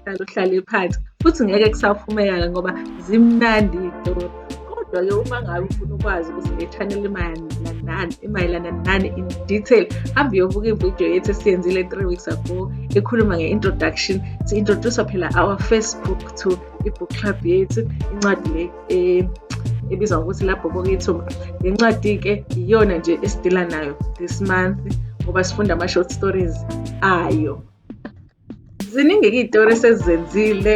uhlale uhlale phansi futhi ngeke kusaphumeka ngoba zimnandi iy'tori kodwa-ke uma ngabe ufuna ukwazi ukuthi le channel imayelana imayelana nani in detail hambe uyobuka ividiyo yethu esiyenzile three weeks ago ekhuluma nge-introduction si-introduce phela our first book to i-book club yethu incwadi le eh, ebizwa ngokuthi lapho kokethuma le ncwadi-ke iyona nje esidila nayo this month ngoba sifunda ama-short stories ayo ziningi iy'tori esezenzile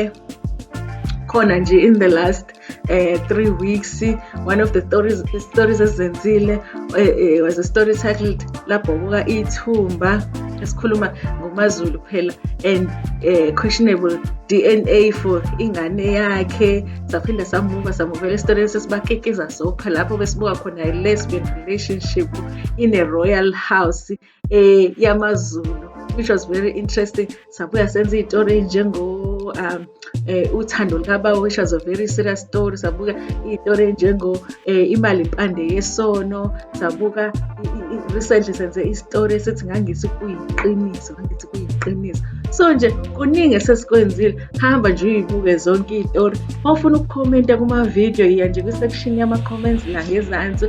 khona nje in the last uh, three weeks one of the stories stories ezenzile uh, eh, uh, eh, was a story titled labhokuka ithumba esikhuluma ngomazulu phela and uh, questionable dna for ingane yakhe saphinde samuka samuvela esitoreni sesibakekeza sopha lapho besibuka khona i-lesbian relationship in a royal house eh yamaZulu which was very interesting sabuya senza iy'tori ey'njengo um eh, uthando lukabawo which was a very serious story sabuka iy'tori ey'njengo eh, imali impande yesono sabuka recently senze isitori esithi ngangisi kuyiqiniso ngangithi kuyiqiniso so nje kuningi esesikwenzile hamba nje uyibuke zonke iy'tori uma ufuna ukukhomenta kuma-video yiya nje kwi-section yama-comments la ngezansi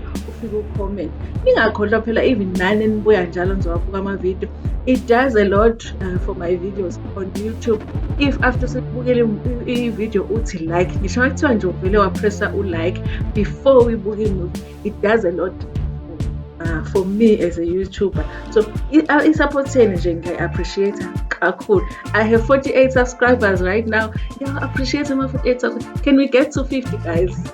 comment ningakhohlwa phela even nani nibuya njalo ngizowabuka amavidiyo it does a lot uh, for my videos on youtube if after sekubukele ividiyo uthi like ngisho kuthiwa nje uvele wapressa ulike before uyibuke imuvi it does a lot uh, for me as a youtuber so isapotheni nje ngiyayi-appreciate kakhulu i have 48 subscribers right now ngiyawa-appreciate ama-48 can we get to 50 guys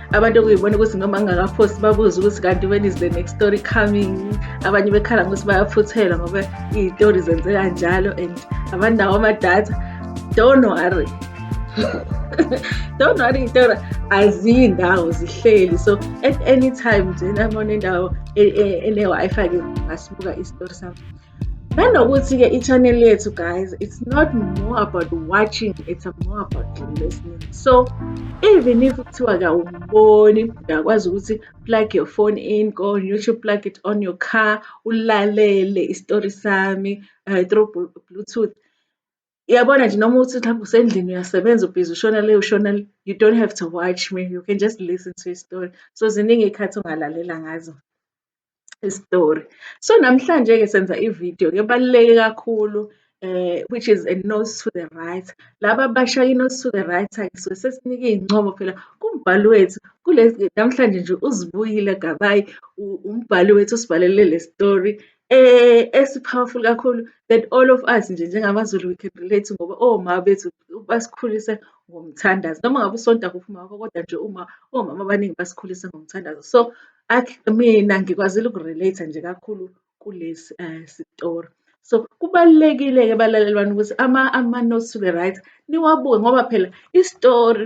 abantu okuyibona ukuthi noma ngingakaphosti babuze ukuthi kanti when is the next story coming abanye bekhala ngokuthi bayaphuthelwa ngoba iy'tori zenzeka njalo and abanawo amadatha don't worry don't worry iy'tori aziyi ndawo zihleli so at any time nje nabona indawo e-, e-, ene-wi-fi ke ngasibuka isitori sami nanokuthi-ke i-channel yethu guys it's not more about watching it's more about listening so even if kuthiwa kawumboni uyakwazi ukuthi plug your phone in go on youtube plug it on your car ulalele isitori sami uh, through bluetooth yabona nje noma uthi mhlawumbe usendlini uyasebenza ubhizi ushona le ushona le you don't have to watch me you can just listen to a story so ziningi iy'khathi ongalalela ngazo isitori. So namhlanje-ke senza ividiyo-ke ebaluleke kakhulu eh which is a nose to the right. Laba abasha i-nose to the right-ke suke sesinike iy'ncomo phela kumbhali wethu namhlanje nje uZibuyile Gabayi umbhali wethu usibhalele le story eh esi-powerful kakhulu that all of us nje njengamaZulu we can relate ngoba omama bethu basikhulise ngomthandazo. Noma ngabe usonta kuphi umama wakho kodwa nje uma omama abaningi basikhulise ngomthandazo. So mina ngikwazile uku-relate-a nje kakhulu kulesi um sitori. So kubalulekile-ke balaleli bami ukuthi ama-notes to be right niwabuke ngoba phela isitori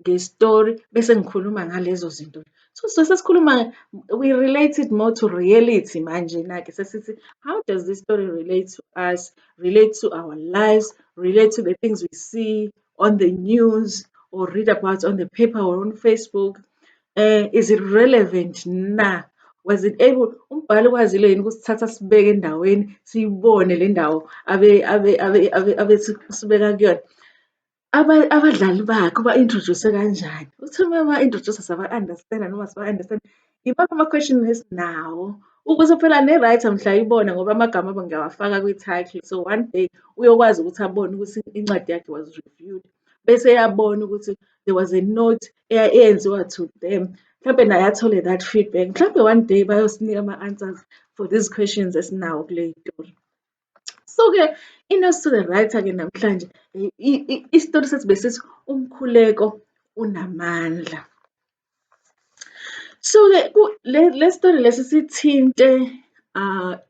nge-story bese ngikhuluma ngalezo zinto. So sisuke sesikhuluma we relate it more to reality manjena-ke sesithi how does this story relate to us, relate to our lives, relate to the things we see on the news or read about on the paper or on Facebook. Uh, is it relevant na? Was it able umbhali ukwazile yini ukusithatha sibeke endaweni siyibone le ndawo abe abe abe abe abe sibeka kuyona abadlali bakhe uba-introduce-e kanjani. Uthi uma eba-introduce-a siyaba-understand-a noma asiba-understand-i. Yimaphi ama-question esinawo ukuze phela ne-writer mhla ayibona ngoba amagama abo ngiyawafaka kwi-title. So one day uyokwazi ukuthi abone ukuthi incwadi yakhe was reviewed, bese eyabona ukuthi there was a note eyenziwa to them. Mhlampe naye athole that feedback. Mhlampe one day bayosinika ama-answers for these questions esinawo kule story. So-ke i-nursery writer-ke namhlanje isitori sethu besithi umkhuleko unamandla. So-ke le sitori lesi sithinte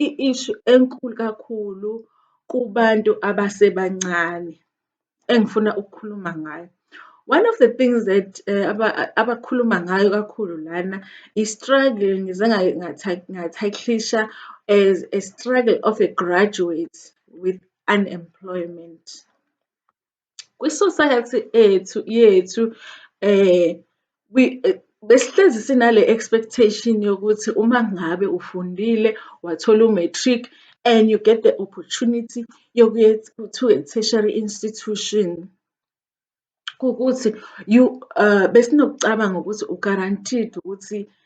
i-issue enkulu kakhulu kubantu abasebancane. engifuna ukukhuluma ngayo. One of the things that eh, abakhuluma ngayo kakhulu lana i-struggle ngize ngathaklisha as a struggle of a graduate with unemployment. Kwi-society ethu yethu eh Besihlezi sinale expectation yokuthi uma ngabe ufundile wathola u-matric and you get the opportunity yokuya to a tertiary institution ukuthi you besinokucabanga ukuthi u-guaranteed ukuthi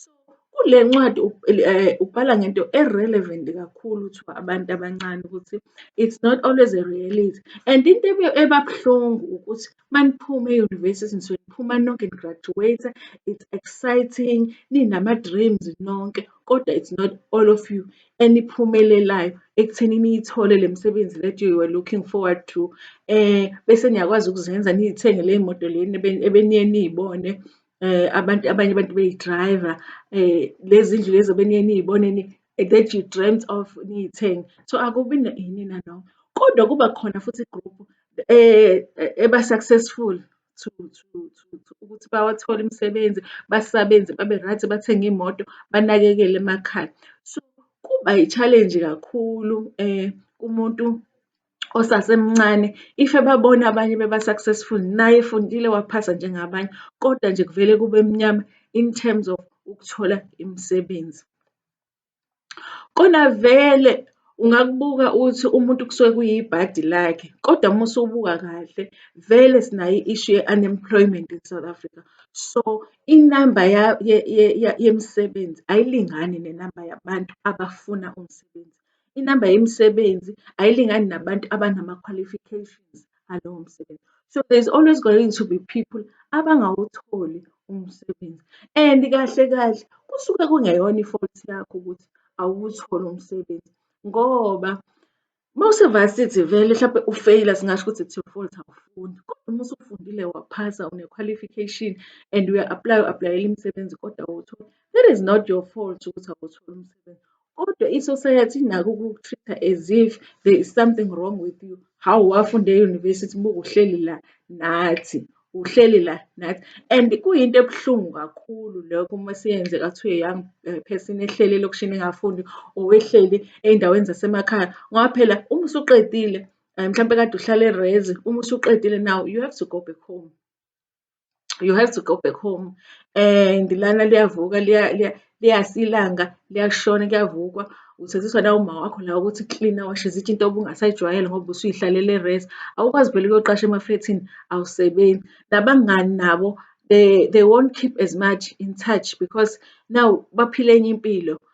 So kule ncwadi eh, ubhala ngento e-relevant kakhulu to abantu abancane ukuthi it's not always a reality and into ebabuhlungu ukuthi maniphume e-university nisuke niphuma nonke ni-graduate it's exciting ninama-dreams nonke kodwa it's not all of you eniphumelelayo ekutheni niyithole le misebenzi that you were looking forward to um bese niyakwazi ukuzenza niyithenge ley'moto leni ebeniye niyibone Abantu abanye abantu beyi-driver lezi ndlu lezi obeniye niyibone that you dreamt of niyithenge. So, akubi yini nanoma kodwa kuba khona futhi i-group eba successful to ukuthi bawathole imisebenzi, basebenze babe-right, bathenge iy'moto, banakekele emakhaya. So, kuba yi-challenge kakhulu kumuntu. osasemncane if ebabona abanye beba-successful naye efundile waphasa njengabanye kodwa nje kuvele kube mnyama in terms of ukuthola imisebenzi. Kona vele ungakubuka uthi umuntu kusuke kuyibhadi lakhe kodwa uma usubuka kahle vele sinayo i-issue ye-unemployment in South Africa. So inamba yemisebenzi ayilingani nenamba yabantu abafuna umsebenzi. inamba yemisebenzi ayilingani nabantu abanama-qualifications alowo msebenzi. So there's always going to be people abangawutholi umsebenzi and kahle kahle kusuke kungeyona i-fault yakho ukuthi awuwutholi umsebenzi ngoba mawusevasithi vele mhlawumbe ufeyila singasho ukuthi it's your fault awufundi kodwa uma usufundile waphasa une-qualification and uya-aplaya u-aplayela imisebenzi kodwa awuwutholi that is not your fault ukuthi awuwutholi umsebenzi kodwa i-society inako ukuku-treat-a as if there is something wrong with you hawu wafunda e-university buke uhleli la nathi uhleli la nathi and kuyinto ebuhlungu kakhulu lokho uma siyenzeka kuthiwa young eh, person ehleli elokishini engafundi or ehleli ey'ndaweni zasemakhaya ngoba phela uma usuqedile um mhlawumpe kade uhlala erezi uma usuqedile now you have to go back home you have to go back home and lana liyavuka liyasa ilanga liyashona kuyavukwa usaziswa nawumama wakho la ukuthi cleaner washe izitsha into obungasayijwayele ngoba usuyihlalele rest awukwazi vele ukuyoqasha emaflethini awusebenzi nabangani nabo they, they won't keep as much in touch because now baphile enye impilo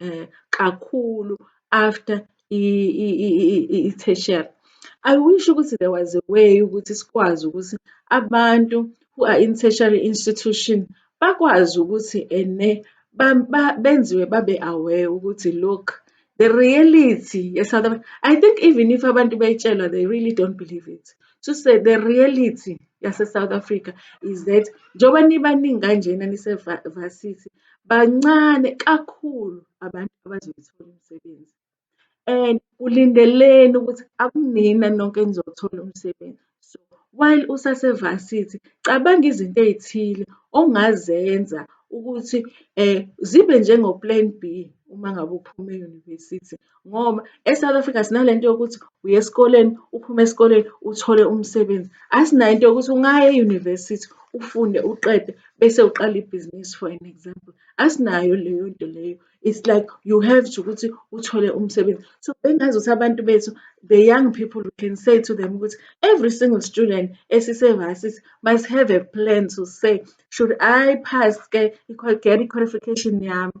um kakhulu after i-tertiary. I wish ukuthi there was a way ukuthi sikwazi ukuthi abantu who are in tertiary institution bakwazi ukuthi ene benziwe babe aware ukuthi look the reality ye-South Africa. I think even if abantu beyitshelwa they really don't believe it. To say the reality yase-South Africa is that njengoba nibaningi kanjena nise-varsity bancane kakhulu abantu abazowuthola umsebenzi and ulindeleni ukuthi akunina nonke enizowuthola umsebenzi. So, while usase-varsity cabanga izinto ey'thile ongazenza ukuthi zibe njengo-plan B uma ngabe uphuma e-university ngoba eSouth Africa sinalento yokuthi uye esikoleni uphume esikoleni uthole umsebenzi asinayo into yokuthi ungaye e-university ufunde uqede bese uqala ibhizinisi for an example asinayo leyo nto leyo it's like you have to ukuthi uthole umsebenzi so bengazi ukuthi abantu bethu the young people we can say to them ukuthi every single student esisevasisi must have a plan to say should i pass ke i-qualification yami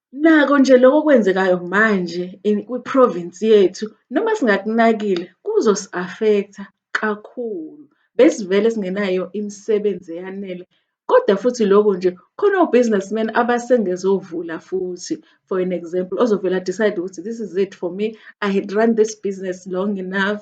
Nako nje lokho okwenzekayo manje kwi-province yethu noma singakunakile kuzosi-affect-a kakhulu. Besivele singenayo imisebenzi eyanele kodwa futhi lokho nje khona o-business man abasengezovula futhi. For an example, ozovele a-decide-e ukuthi this is it for me, I had run this business long enough.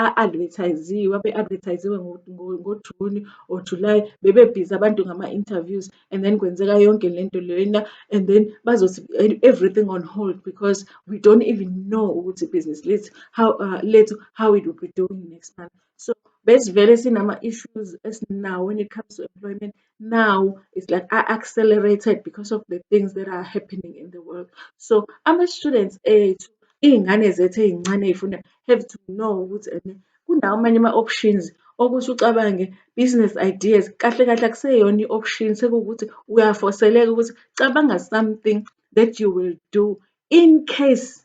a-advertise-ziwe, abe-advertise-ziwe ngoJuni or July, bebebhizi abantu ngama-interviews and then kwenzeka yonke le nto lena and then bazothi everything on hold because we don't even know ukuthi ibhizinisi lethu how uh, lethu how it will be doing next month. So besivele sinama-issues esinawo when it comes to employment now it's like I accelerated because of the things that are happening in the world. So I'm a student age iy'ngane zethu ey'ncane ey'funda have to know ukuthi ene kunawo amanye ama-options okuthi ucabange business ideas kahle kahle akuseyona i-option sekuwukuthi uyafoseleka ukuthi cabanga something that you will do in case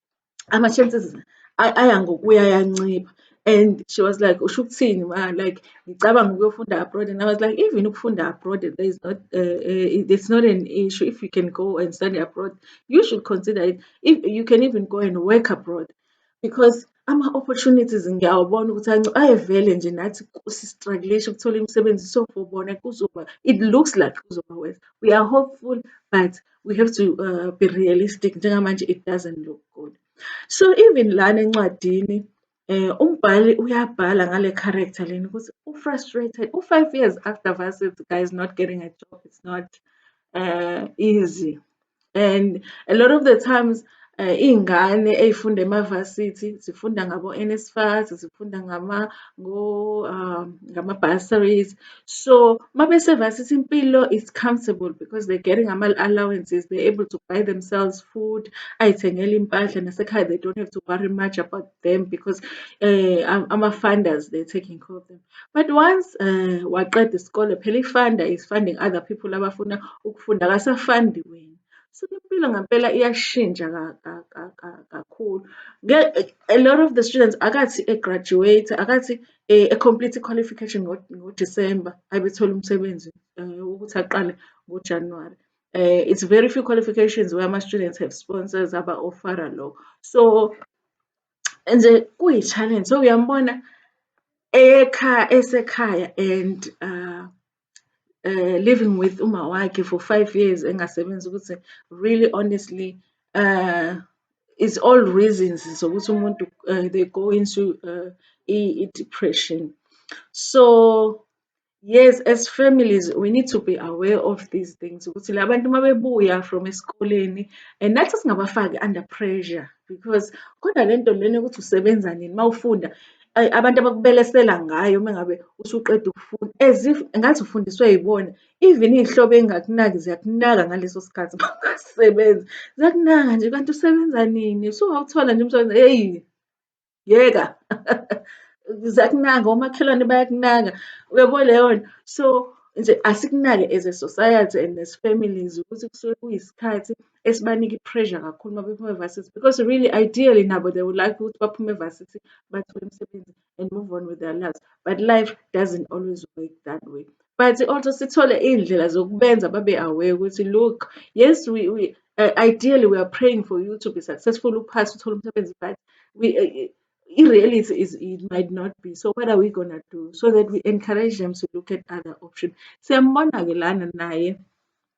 ama-chances aya ngokuya ayancipha and she was like usho ukuthini ma like ngicabanga ukuyofunda abroad and I was like even ukufunda abroad there is not uh, uh, it's not an issue if you can go and study abroad you should consider it if you can even go and work abroad because ama-opportunities ngiyawabona ukuthi ayevele nje nathi sistruglisha ukuthola imisebenzi so for bona kuzoba it looks like kuzoba worse we are hopeful but we have to uh, be realistic njengamanje it doesn't look good so even lana encwadini eh umbhali uyabhala ngale character leni ukuthi u frustrated u 5 years after varsity guys not getting a job it's not uh, easy and a lot of the times Iy'ngane ey'funda emavasithi zifunda ngabo-NSFAS, zifunda ngama-bursaries. So, uma besevasithi impilo is comfortable because they're getting ama-allowances, they're able to buy themselves food, ay'thengela iy'mpahla nasekhaya they don't have to worry much about them because ama-funders they're taking care of them. But once waqeda isikole, phela i-funder is funding other people abafuna ukufunda, akasafundi wena. Shuthi impilo ngempela iyashintsha kakhulu. A lot of the students akathi e-graduate-a, akathi e-complete-a i-qualification ngoDisemba abe ethole umsebenzi ukuthi aqale ngoJanuwari. It's very few qualifications where ama-students have sponsors aba-ofara lokho. So nje kuyi-challenge, so uyambona ekhaya esekhaya and . living with umawakhe for five years engasebenzi ukuthi really honestly is all reasons zokuthi umuntu uh, they go into uh, i-depression so yes as families we need to be aware of these things ukuthi labantu uma bebuya from esikoleni and nathi singabafaki under pressure because kodwa le nto lena ukuthi usebenza nini uma ufunda Ayi abantu abakubelesela ngayo uma ngabe usuqeda ukufunda as if ngathi ufundiswe yibona. Even iy'hlobo ey'ngakunaki ziyakunaka ngaleso sikhathi uma ungasebenzi. Ziyakunaka nje kanti usebenza nini? Usungawuthola nje umsebenzi hheyi yeka ziyakunaka omakhelwane bayakunaka uyabo leyo nto. So nje asikunake as a society and as families ukuthi kusuke kuyisikhathi esibanika i-pressure kakhulu uma bephuma e-varsity because really ideally nabo they would like ukuthi baphume e-varsity bathole imisebenzi and move on with their lives but life doesn't always work that way but also sithole iy'ndlela zokubenza babe aware ukuthi look yes we, we uh, ideally we are praying for you to be successful uphase uthole umsebenzi but we uh, uh i-reality is it might not be so what are we gonna do so that we encourage them to look at other options siyambona-ke lana naye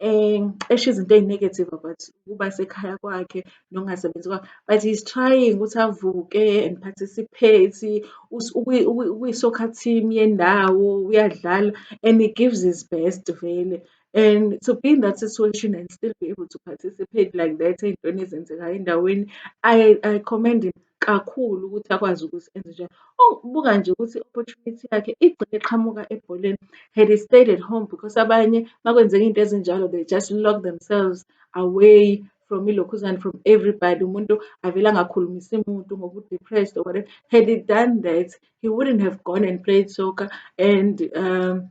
esho izinto eyi-negative about ukuba sekhaya kwakhe nokungasebenzi kwakhe. But he's trying ukuthi avuke and participate, ukwi-soccer team yendawo uyadlala and he gives his best vele. And to be in that situation and still be able to participate like that ey'ntweni ezenzekayo endaweni I commend him. kakhulu ukuthi akwazi ukuthi enze njani. Oh, buka nje ukuthi i-opportunity yakhe igcine iqhamuka ebholeni. Had he stayed at home because abanye makwenzeka into ezinjalo they just lock themselves away from ilokhuzane from everybody umuntu avele angakhulumisi muntu ngoba u-depressed or whatever had he done that he wouldn't have gone and played soccer and um,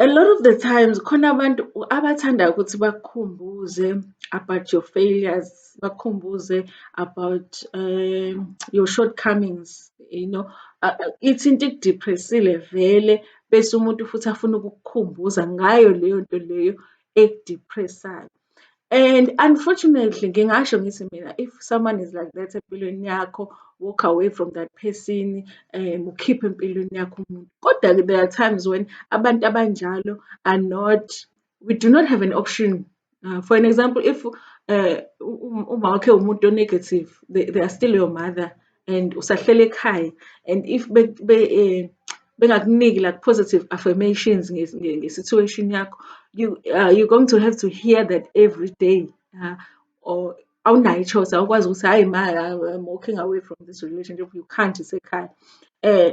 A lot of the times khona abantu abathanda ukuthi bakukhumbuze about your failures, bakukhumbuze about um, your shortcomings, you know. Uh, uh, ithi into ikudepressile vele bese umuntu futhi afuna ukukukhumbuza ngayo leyo nto leyo ekudepressayo. And unfortunately ngingasho ngithi mina if someone is like that empilweni yakho walk away from that person um ukhiphe empilweni yakho umuntu kodwa-ke there are times when abantu abanjalo are not we do not have an option uh, for an example if uh, um, uma wakhe umuntu onegative they, they are still your mother and usahlele ekhaya and if be, be, eh, bengakuniki like positive affirmations nge-situation yakho you, uh, you're going to have to hear that every day uh, or awunayo i-choice awukwazi ukuthi hhayi ma i'm walking away from this relationship you can't isekhaya um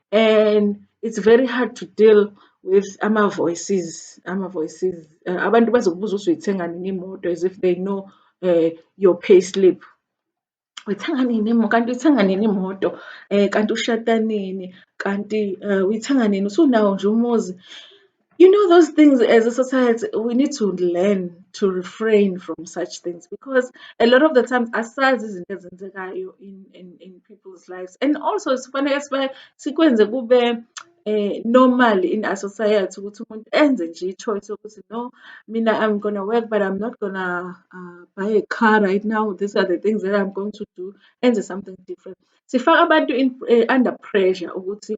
and it's very hard to deal with ama-voices ama-voices uh, abantu bazokubuza ukuthi uyithenga nini imoto as if they know uh, your pay slip uyithenga nini imoto kanti uyithenga nini imoto um kanti ushada nini kanti um uyithenga nini usunawo nje umuzi you know those things as a society we need to learn to refrain from such things because a lot of the times asazi izinto ezenzekayo in, in, in people's lives and also sifanele sibe sikwenze kube eh normal in our society ukuthi umuntu enze nje i-choice yokuthi no mina i'm gonna work but i'm not gonna uh, buy a car right now these are the things that i'm going to do enze something different sifaka abantu in, uh, under pressure ukuthi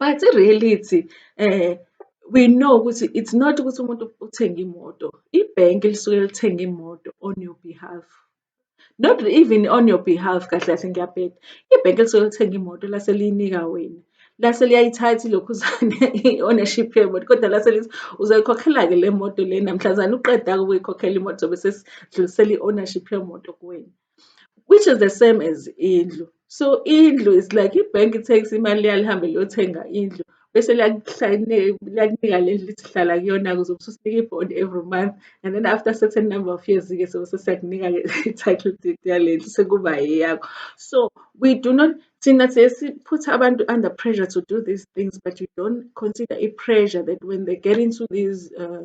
but i-reality um we know ukuthi it's not ukuthi umuntu uthenge imoto, ibhenki lisuke lithenge imoto on your behalf. Not even on your behalf kahle kahle ngiyabheda, ibhenki lisuke lithenge imoto lase liyinika wena. Lase liyayithatha ilokhuzane i-ownership yemoto kodwa lase lithi uzoyikhokhela-ke le moto le namhlazane uqeda-ke ukuyikhokhela imoto zobe sesidlulisela i-ownership yemoto kuwena. which is the same as indlu so indlu is like i-bank i-tax imali yalihambe liyothenga indlu bese liyakunika le lithi hlala kuyona kuze ususinika i-bond every month and then after certain number of years-ke so sesiyakunika-ke i-title deed yale ndlu sekuba eyakho so we do not thina siye siphutha abantu under pressure to do these things but you don't consider i-pressure that when they get into these uh,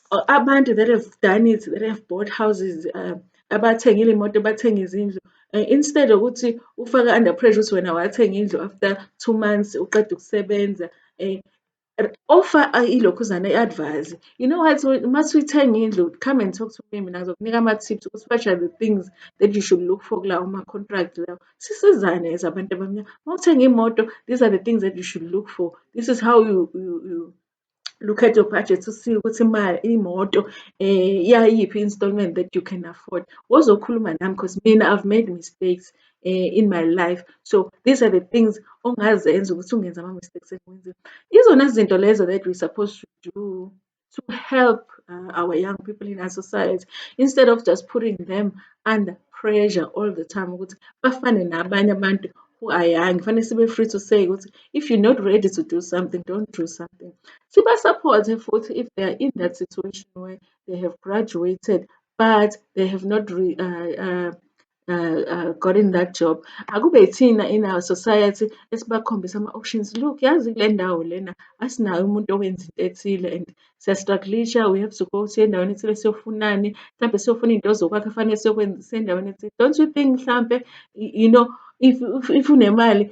abantu that have done it that have bought houses uh, abathengile imoto bathenga izindlu uh, instead ukuthi ufake under pressure ukuthi wena wathenga indlu after two months uqeda ukusebenza um offer ilokhuzana i-advise you know what uma suyithenga indlu come and talk to me mina ngizokunika ama-tips ukuthi what are the things that you should look for kulawo ma-contract lawo sisizane as abantu abamnyama uma uthenga imoto these are the things that you should look for this is how you, you, you look at your budget to see ukuthi imali imoto eh yayiphi installment that you can afford wozokhuluma nami because mina i've made mistakes eh, in my life so these are the things ongazenza ukuthi ungenza ama mistakes engiwenzile izona zinto lezo that we supposed to do to help uh, our young people in our society instead of just putting them under pressure all the time ukuthi bafane nabanye abantu who are young fanele sibe free to say ukuthi if you're not ready to do something don't do something sibasapothe futhi if they are in that situation where they have graduated but they have not re, uh, uh, uh, uh, gotten that job akube thina in our society esibakhombisa ama-options look yazi kule ndawo lena asinayo umuntu owenza into ethile and siyastrugglisha we have to go siye endaweni ethile siyofunani mhlawumbe siyofuna into ozokwakhe fanele siyokwenzisa endaweni ethile don't you think mhlampe you know if, if, if unemali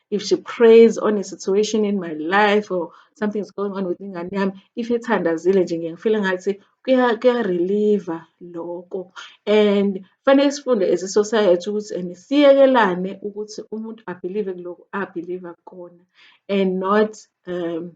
if she prays on a situation in my life or something is going on with ingane yami if ithandazile nje ngiye ngifile ngathi kuya-relieve-a loko and kufanele sifunde as i-society ukuthi and siyekelane ukuthi umuntu abhilive kuloko abhiliva kukona and not um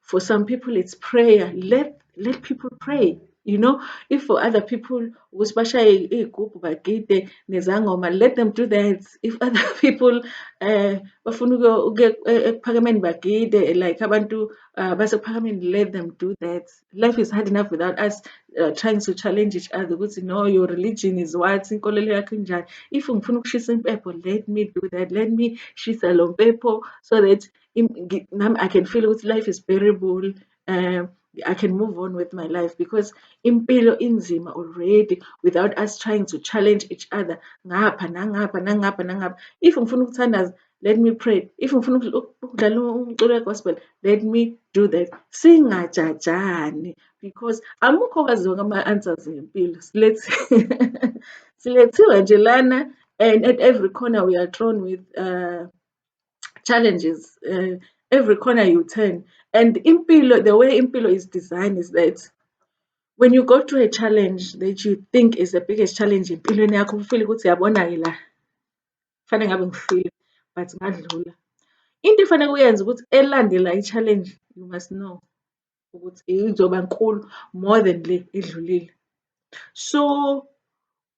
for some people it's prayer let let people pray you know if for other people ukuthi bashaye iy'gubhu bagide nezangoma let them do that if other people um bafuna ukuya ekuphakemeni bagide like abantu uh, basekuphakemeni let them do that life is hard enough without us uh, trying to challenge each other ukuthi no your religion is what inkolelo yakho injani if ngifuna ukushisa impepho let me do that let me shisa lo mpepho so that nami i can feel ukuthi life is bearable um I can move on with my life because impilo inzima already without us trying to challenge each other ngapha nangapha nangapha nangapha if ngifuna ukuthandaza let me pray if ngifuna ukudlala umculo we-gospel let me do that singajajani because amukho kwazi zonke ama-answers empilo silethiwe nje lana and at every corner we are thrown with uh, challenges uh, every corner you turn and impilo the way impilo is designed is that when you go through a challenge that you think is the biggest challenge empilweni yakho ufile ukuthi yabona-ke la kufanele ngabe ngifile but ngadlula into efanele uyenze ukuthi elandela i-challenge you must know ukuthi izoba nkulu more than le edlulile so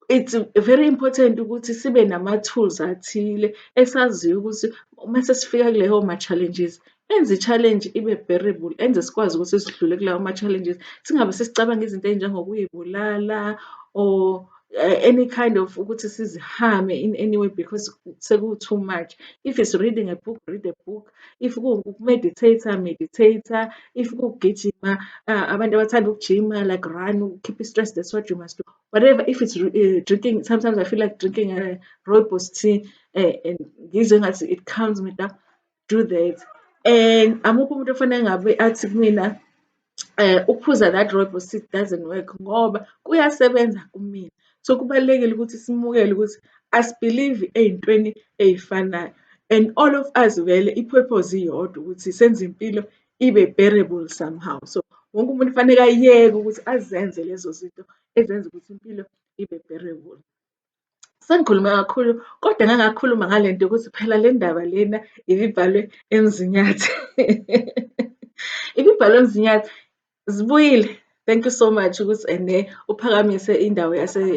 it's very important ukuthi sibe nama-tools athile esaziyo ukuthi uma sesifika kuleyo ma-challenges enze i-challenge ibe bearable enze sikwazi ukuthi sidlule kulawo ma-challenges singabe sesicabanga izinto ey'njengokuyibulala or eh, any kind of ukuthi sizihame in any way because seku-too much if it's reading a book read a book if kuwu-meditate-a meditate-a, if kuwugijima abantu abathanda ukujima like run keep i-stress that's what you must do. Whatever if it's uh, drinking sometimes I feel like drinking a uh, rooibos tea uh, and ngizwe ngathi it calms me down do that and amukho umuntu ofanele ngabe athi kumina Ukuphuza that rooibos seed doesn't work ngoba kuyasebenza kumina. So, kubalulekile ukuthi simukele ukuthi asibhilivi ey'ntweni ey'fanayo and all of us vele i-purpose iyodwa ukuthi senze impilo ibe bearable somehow. So, wonke umuntu kufaneke ayeke ukuthi azenze lezo zinto ezenza ukuthi impilo ibe bearable. Sengikhulume kakhulu kodwa ngake ngakhuluma ngale nto yokuthi phela le ndaba lena ibibhalwe eMzinyathi. Ibibhalwe eMzinyathi. Zibuyile. Thank you so much ukuthi ene eh, uphakamise indawo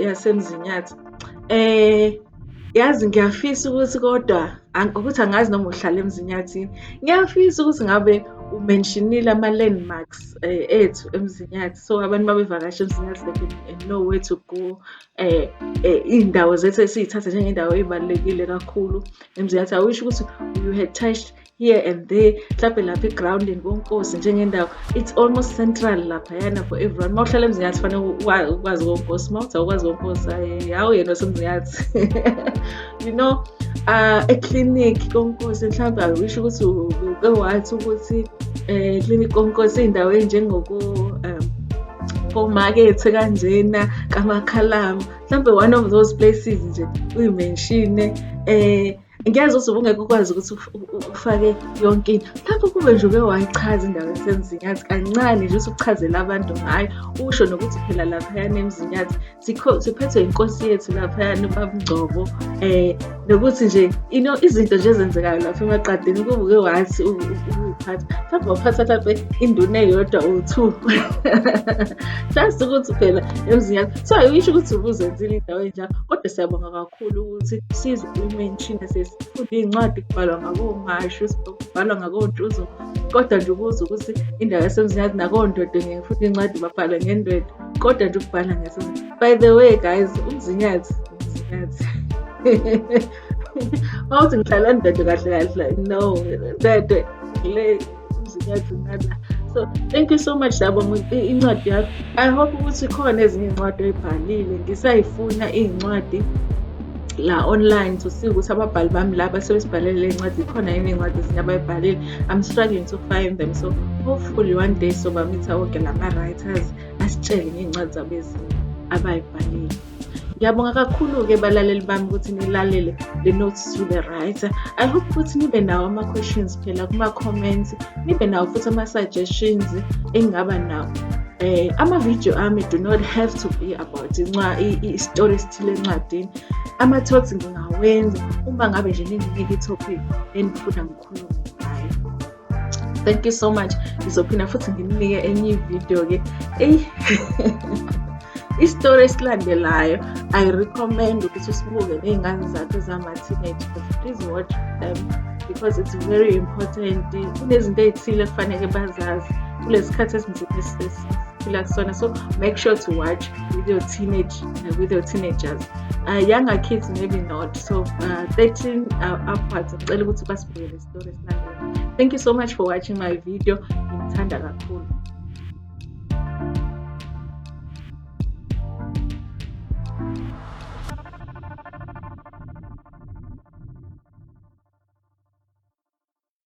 yaseMzinyathi. Eh yazi ngiyafisa ukuthi kodwa ukuthi angazi noma uhlala eMzinyathini. Ngiyafisa ukuthi ngabe umentionile ama-landmarks eh, ethu emzinyathi so abantu babevakasha emzinyathi they can know where to go eh eh indawo zethu esiyithatha njengendawo ebalekile kakhulu emziyathi awusho ukuthi you had touched here and there mhlawumbe lapha egroundini konkosi njengendawo it's almost central lapha yana for everyone uma uhlala emzinyathi fanele ukwazi konkosi uma uthi awukwazi konkosi hawu yena osemzinyathi you know uh, eclinic konkosi mhlawumbe awisho ukuthi uke wathi ukuthi um eh, clinic konkosi iy'ndawo enjengoko um omakethe kanjena kamakhalama mhlawumbe one of those places nje uyimenshine eh ngiyazwa ukuthi ubungeke ukwazi ukuthi ufake yonke into lapho kube nje uke wayichaza indawo esemzinyathi kancane nje ukuthi ukuchazela abantu ngayo usho nokuthi phela laphayana emzinyathi siphethwe inkosi yethu laphayana ubabungcobo um eh, nokuthi nje ino izinto nje ezenzekayo lapha emaqadini kubuke wathi ukuyiphatha mhlawumbe waphatha mhlawumbe induna eyodwa or two just ukuthi phela emzini yakho so ayisho ukuthi ubuzenzile indawo enjalo kodwa siyabonga kakhulu ukuthi size imenshini sesifunde iy'ncwadi kubhalwa ngakomashu kubhalwa ngakontuzo kodwa nje ukuze ukuthi indawo yasemzini yakho nakondodo ngeke futhi incwadi babhalwe ngendodo kodwa nje ukubhala ngeso by the way guys umzinyathi umzinyathi mawuthi ngihlala ndedwe kahle kahle no ndedwe le umzinyathi nala so thank you so much sabo incwadi yakho i hope ukuthi khona ezinye iy'ncwadi oyibhalile ngisayifuna iy'ncwadi la online to see ukuthi ababhali bami la basuke sibhalele le ncwadi khona yini iy'ncwadi ezinye abayibhalile i'm struggling to find them so hopefully one day sobamitha woke lama-writers asitshele ngey'ncwadi zabo ezinye abayibhalile ngiyabonga kakhulu-ke balaleli bami ukuthi nilalele the notes to the writer i hope ukuthi nibe nawo ama-questions phela kuma-comments nibe nawo futhi ama-suggestions engingaba nawo um eh, ama-video ami do not have to be about i-story okuthile encwadini ama-talks ngingawenza uma ngabe nje ninginike i-topic enifuna ngikhulume ngayo thank you so much ngizophinda futhi nginike enye ividiyo-ke eyi isitori esilandelayo i recommend ukuthi usibuke ney'ngane zakho zama-teenage please watch them because it's very important kunezinto ey'thile kufanele bazazi kulesi khathi esinzima siphila kusona so make sure to watch with your teenage uh, with your teenagers uh, younger kids maybe not so uh, 13 uh, upwards ngicela ukuthi basibuyele isitori esilandela thank you so much for watching my video ngithanda kakhulu